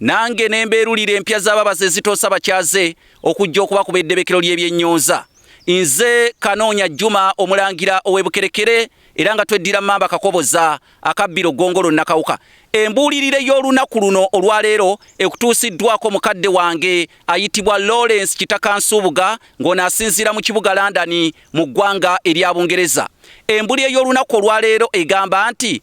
Nange ne mbeerulira empya z'ababazi ezitoosa bakyaze okujja okubakuba eddebekero ly'ebyennyonza. Nze Kanoonya Juma Omulangira ow'e Bukerekere era nga tweddira Mmamba Kakoboza akabbiro Ggongolo Nakawuka. Embuulirire y'olunaku luno olwaleero ekutuusiddwako mukadde wange ayitibwa Lawrence Kitaka Nsubuga ng'ono asinziira mu kibuga London mu ggwanga erya Bungereza. Embuli ey'olunaku olwaleero egamba nti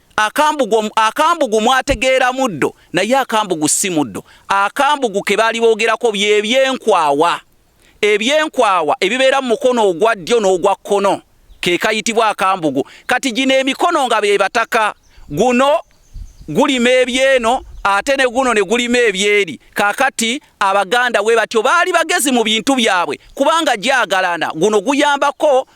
Akambugu, akambugu mwategeera muddo naye akambugu si muddo. Akambugu ke baali boogerako bye byenkwawa. Ebyenkwawa ebibeera mu mukono ogwa ddyo n'ogwa kkono ke kayitibwa akambugu. Kati gino emikono nga be bataka, guno gulima ebyeno ate ne guno ne gulima ebyeri. Kaakati Abaganda bwe batyo baali bagezi mu bintu byabwe kubanga gyagalana. Guno guyambako